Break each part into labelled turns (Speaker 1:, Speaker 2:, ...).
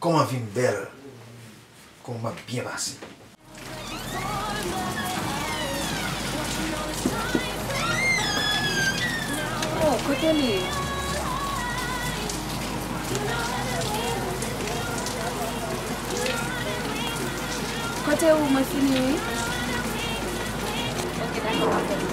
Speaker 1: Koman vim bel Koman map byen pase.
Speaker 2: Oh kote li ye. Kote ou mwen fini wi. Ok dako map tann ou.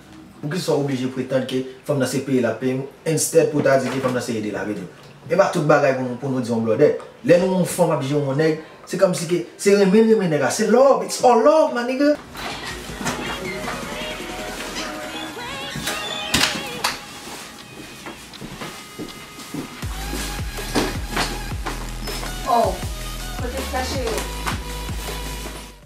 Speaker 1: Poukisa w oblije pretand ke fanm nan se peye l ap peye w instead pou w ta di ke fanm nan se ede l ap ede w? E pa tout bagay pou nou pou nou di yon blòdè. Lè nou wè yon fanm ap jere yon nèg, se kòmsi ke se renmen l renmen nèg la. Se love, it's all love my nigga.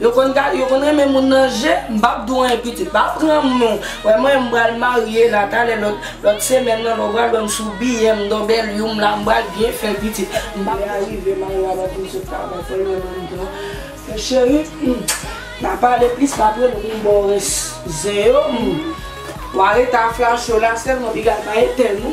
Speaker 3: Yo konn gad yo konn renmen moun nan je m pap di w anyen pitit pa pran m non wè mwen m pral marye la talè lòt lòt semèn nan lè w pral wè m sou biyè m don bèlyou m la m pral byen fè pitit m pap lè a rive mari w ap ap di m sot travay fò l wè m anndan men cheri m nan pale plis m ap rele w m ba w rès zen yo m wa rete a flash yo la sèlman piga pa etèn ou.